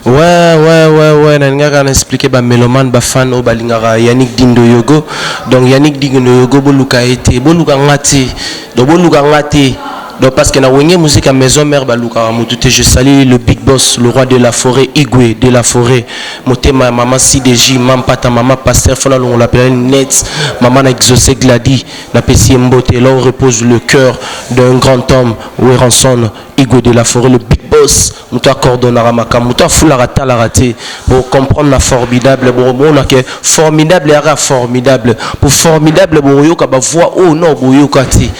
Ouais, ouais, ouais, ouais, nalingaka na expliquer ba meloman ba fan oyo balingaka Yannick Dindo Yogo. Donc Yannick Dindo Yogo boluka ye te, boluka nga te. Donc boluka nga te. Donc parce que na wenge musique à maison mère balukaka mutu te. Je salue le big boss, le roi de la forêt, Igwe de la forêt. Motema ya maman CDJ, maman Pata, maman Pasteur Fona Longola Pelani Net, maman na exaucé Glady, na pesi ye mbote. Là où repose le cœur d'un grand homme, Weranson Igwe de la foret le big boss moto acordonnaka makambo moto afulaka atalaka te bocomprendre na formidable bokomona ke formidable yaka formidable po formidable bokoyoka bavoix oyo no boyoka te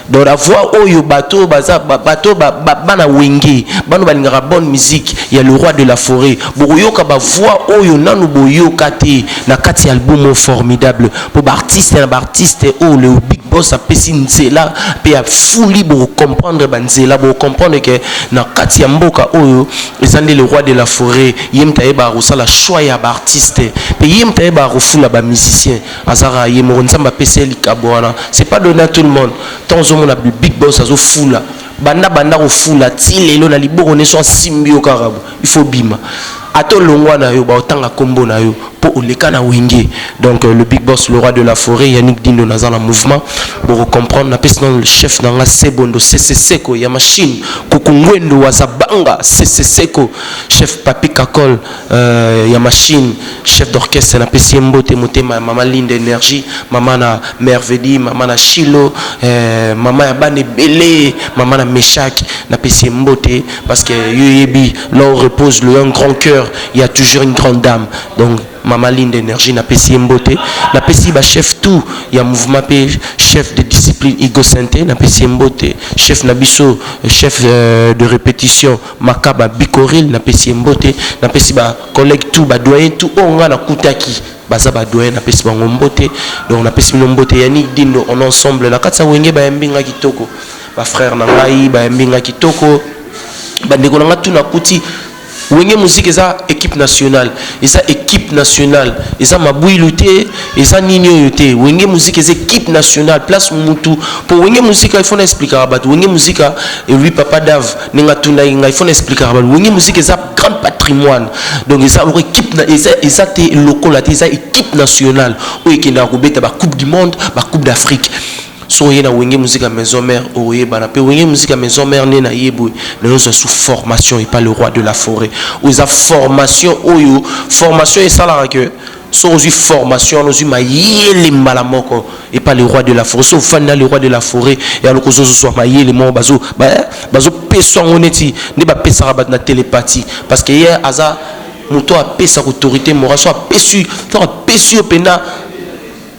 donc na voix oyo bato oyo baza bato bana wenge bano balingaka bonne musique ya le roi de la foret bokoyoka bavoix oyo nanu boyoka te na kati ya album oyo formidable mpo baartiste na baartiste oyo oh, leo big boss apesi nzela mpe afuli bokocomprendre banzela bokocomprendre ke na kati ya mboka oyo eza nde le roi de la forêt ye moto ayebaka kosala choix ya baartiste mpe ye moto ayebaka kofula bamusicien azalaka ye moko nzambe apesi ye likabo wana c'est pas donné à tout le monde ntango ozomona big boss azofula banda banda kofula ti lelo na liboko neso asimbi yo kaka bo il faut obima ata olongwa na yo baotanga kombo na yo po oleka na wenge donc le big boss le roi de la foret yannick dindo naza na mouvement boko comprendre napesi nano le chef na nga sebondo seseseko ya machine kukungwendu wazabanga seseseko chef papi kakol euh, ya machine chef d'orchestre napesi ye mbote motema ya mama linde energie mama na mervedi mama na shilo euh, mama ya bana ebele mama na meshak napesi ye mbote Parce que yo yebi là où repose le un grand cœur, il y a toujours une grande dame. Donc Mama Linde Energie na pesi ye mbote, na pesi ba chef tout ya mouvement pe chef de discipline Igo Sente na pesi ye mbote, chef na biso chef euh, de répétition Makaba Bikoril na pesi ye mbote, na pesi ba collègues tout ba doyen tout oyo nga na kutaki baza ba doyen na pesi bango mbote. Donc na pesi bino mbote Yannick Dindo on ensemble na kati ya wenge ba yambi nga kitoko. Ba frère na ngai bayambi nga kitoko ba ndeko na nga tout na kuti wenge musique eza equipe nationale eza equipe nationale eza mabuilu te eza nini oyo te wenge musique eza equipe nationale place mutu po wenge musique il faut na explikaka bato wenge musique elui papa dave ndenge atunaki ngai il faut na explikaka bato wenge musique eza grande patrimoine donc eza loko équipe na eza eza te lokola te eza équipe nationale oyo ekendaka kobeta ba coupe du monde ba coupe d'afrique Soki oye na wenge musique ya maison mère okoyebana pe wenge musique ya maison mère nde naye boye nayo ozwa su formation epa le roi de la foret oyo eza formation oyo formation esalaka que soki ozwi formation wana ozwi mayele mbala moko epa le roi de la foret soki ofandi na le roi de la foret yaloka ozozwa mayele moko bazo bazopesa yango neti nde bapesaka bato na telepathie parce que ye aza moto apesaka autorité morale so apesi soki apesi yo mpenza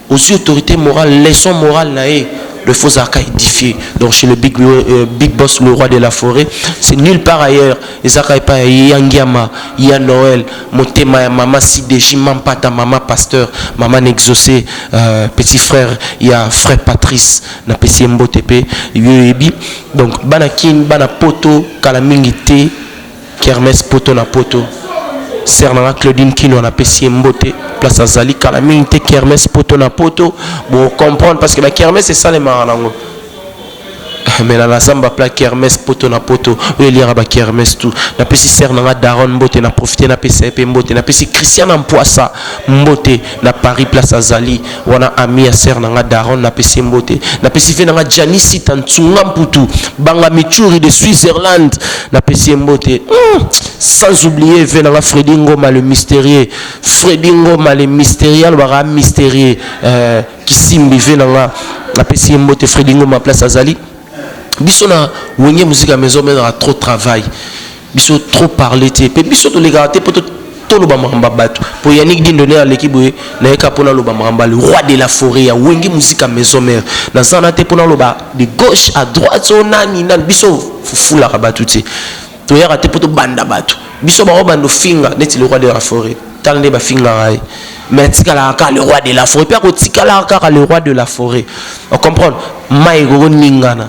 Ozui autorite morale leçon morale na ye le faux arca edifie donc chez le big, euh, big boss le roi de la foret c'est nulle part ailleurs ezaka epa ya ya ngiama ya noel motema ya mama sideji mampata mama pasteur mama n'exauce euh, petit frère ya frère patrice na pesi ye mbote pe yo yebi donc bana kin bana poto kala mingi te Kermesse poto na poto. Sœur na nga Claudine Kinwa na pesi ye mbote place azali kala mingi te kermesse poto na poto bo comprendre parce que ba kermesse esalemaka nango mais na nasamba pla kermesse poto na poto oyo eliaka ba kermesse tout napesi sœur na nga Daron mbote na profite napesa ye mpe mbote napesi Christiana Mpuasa mbote na Paris place azali wana ami ya sœur na nga Daron na pesi mbote na pesi fe na nga Janice Tantsunga Mputu banga Michuri de Switzerland na pesi mbote hmm. sans oublier ve na nga Freddy Ngoma le mystérieux Freddy Ngoma le mystérieux alobaka mystérieux euh, kisimbi ve na nga na pesi mbote Freddy Ngoma place azali biso na wenge musique ya maison menaka trop travail Biso trop parler te pe biso tolekaka te po toloba makambo ya bato po Yannick Dindo nde aleki boye naye kaka mpo naloba makambo ya le roi de la foret ya wenge musika maison mère naza wana te mpo naloba de gauche à droite o oh, nani nani biso fufulaka bato te toyaka te mpo tobanda bato biso bango bando finga neti le roi de la foret tala nde bafingaka ye mais atikalaka kaka le roi de la foret mpe akotikalaka kaka le roi de la foret ocomprendre mai ekokoningana